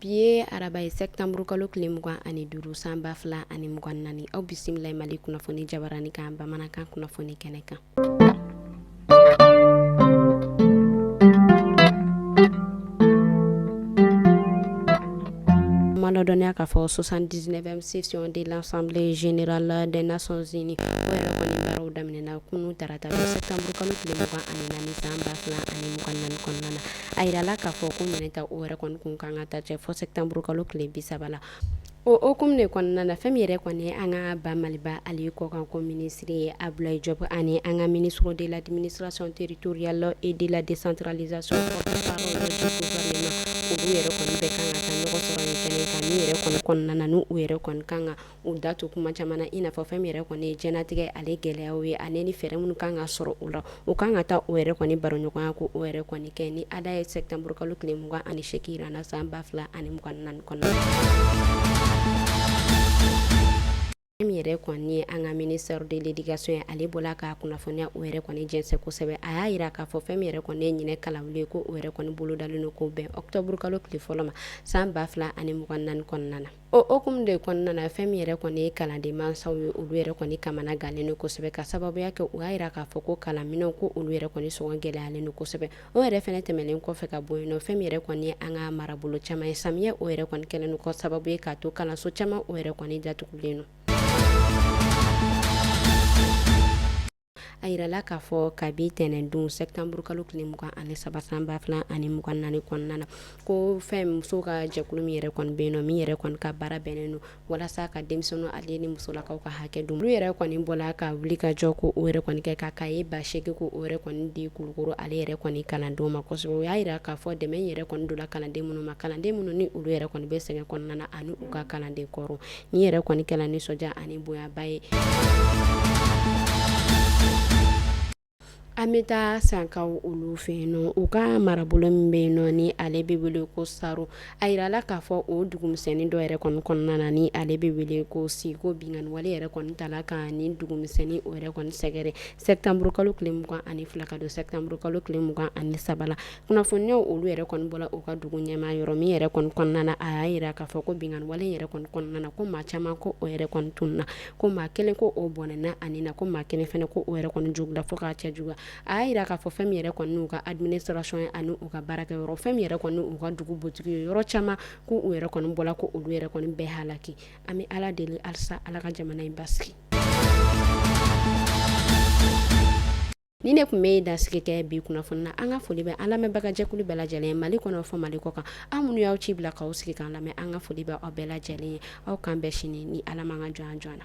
Bi ye araba ye sɛtanburu kalo tile mugan ani duuru san ba fila ani mugan naani aw bisimila mali kunnafoni jabaranin kan bamanankan kunnafoni kɛnɛ kan dɔnniya k'a fɔ 79e session de l'Assemblée générale des Nations Unies o yɛrɛ kɔni baaraw daminɛna kunu tarata septembre kalo tile mugan ani naani san ba fila ani mugan naani kɔnɔna na a yirala k'a fɔ ko ɲinɛn ta o yɛrɛ kɔni kun kan ka taa cɛ fo septembre kalo tile bi saba la Ɔ ok de kɔnɔna na fɛn yɛrɛ kɔni an ka ba maliba ale ye kɔkan ko minisiri ye a bila ye jɔ ani an ka mini sɔrɔ de la diini sirasɔn teri toya la e de la de sanralizaale sɔrɔ yɛrɛ kɔnɔna na u yɛrɛ kan kan u da to kuma caman i n'a fɛn yɛrɛ kɔni jtigɛ ale gɛlɛya ye ani ni fɛɛrɛ minnu kan ka sɔrɔ u la o kan ka taa o yɛrɛ kɔni baroɲɔgɔnya ko o yɛrɛ kɔni kɛ ni ale ye sɛtanburu kalo tile mugan ani seginnan na san ba fila ani mugan naani kɔnɔna na fɛn min yɛrɛ kɔni ye an ka ministre de l'éducation ye ale bɔla ka kunnafoniya o yɛrɛ kɔni jɛnsɛn kosɛbɛ a y'a yira k'a fɔ fɛn min yɛrɛ kɔni ye ɲinɛn kalanwuli ye ko o yɛrɛ kɔni bolo dalen don ko bɛn ɔkutɔburu kalo tile fɔlɔ ma san ba fila ani mugan naani kɔnɔna na O hukumu de kɔnɔna na fɛn min yɛrɛ kɔni ye kalanden mansaw ye olu yɛrɛ kɔni kamana gannen don kosɛbɛ ka sababuya kɛ u y'a yira k'a fɔ ko kalanminɛnw ko olu yɛrɛ kɔni sɔngɔ gɛlɛyalen don kosɛbɛ o yɛrɛ fɛnɛ tɛmɛnen kɔfɛ ka bɔ yen nɔ fɛn min yɛrɛ kɔni ye an ka marabolo caman ye samiyɛ o yɛrɛ kɔni kɛlen don k'o sababu ye k'a to kalanso caman o yɛrɛ kɔni datugulen don a yirala k'a fɔ kabi tɛnɛndon sɛtanburu kalo tile mugan ani saba san ba fila ani mugan naani kɔnɔna na ko fɛn musow ka jɛkulu min yɛrɛ kɔni bɛ yen nɔ min yɛrɛ kɔni ka baara bɛnnen don walasa ka denmisɛnninw ale ni musolakaw ka hakɛ dɔn olu yɛrɛ kɔni bɔla ka wulikajɔ ko o yɛrɛ kɔni kɛ ka kaye ba segin ko o yɛrɛ kɔni di kulukoro ale yɛrɛ kɔni kalandenw ma kosɛbɛ u y'a yira k'a fɔ dɛmɛ yɛrɛ kɔni donna kalanden minnu ma kalanden minnu ni olu yɛrɛ kɔni bɛ sɛgɛn kɔnɔna na ani u ka kalanden kɔrɔ nin yɛrɛ kɔni kɛla nisɔndiya ani bonyaba ye an bɛ taa sankaw olu fɛ yen nɔ u ka marabolo min bɛ yen nɔ ni ale bɛ wele ko saro a yirala k'a fɔ o dugumisɛnnin dɔ yɛrɛ kɔni kɔnɔna na ni ale bɛ wele ko siko binkanni wale yɛrɛ kɔni tala ka ni dugumisɛnnin o yɛrɛ kɔni sɛgɛrɛ sɛtanburukalo tile mugan ani fila ka don sɛtanburukalo tile mugan ani saba kunnafoniya olu yɛrɛ kɔni bɔla u ka dugu ɲɛmaa yɔrɔ min yɛrɛ kɔni kɔnɔna na a y'a yira k'a fɔ ko binkanni wale yɛrɛ kɔni kɔnɔna na ko maa caman ko o yɛrɛ kɔni tununna ko maa kelen ko o bɔnɛna a ni na ko maa kelen fana ko o yɛrɛ kɔni jogila fo k'a cɛjuguya a y'a yira k'a fɔ fɛn min yɛrɛ kɔni n'u ka administration ye ani u ka baarakɛ yɔrɔ fɛn min yɛrɛ kɔni n'u ka dugu butigi ye yɔrɔ caman ko u yɛrɛ kɔni bɔla ko olu yɛrɛ kɔni bɛɛ halaki an bɛ Ala deli halisa Ala ka jamana in basigi Nin ne kun bɛ ye dasigi kɛ bi kunnafoni na an ka foli bɛ an lamɛnbagajɛkulu bɛɛ lajɛlen ye mali kɔnɔ fo mali kɔkan an minnu y'aw ci bila k'aw sigi k'an lamɛn an ka foli bɛ aw bɛɛ lajɛlen ye aw k'an bɛn sini ni ala m'an ka jɔn jɔn na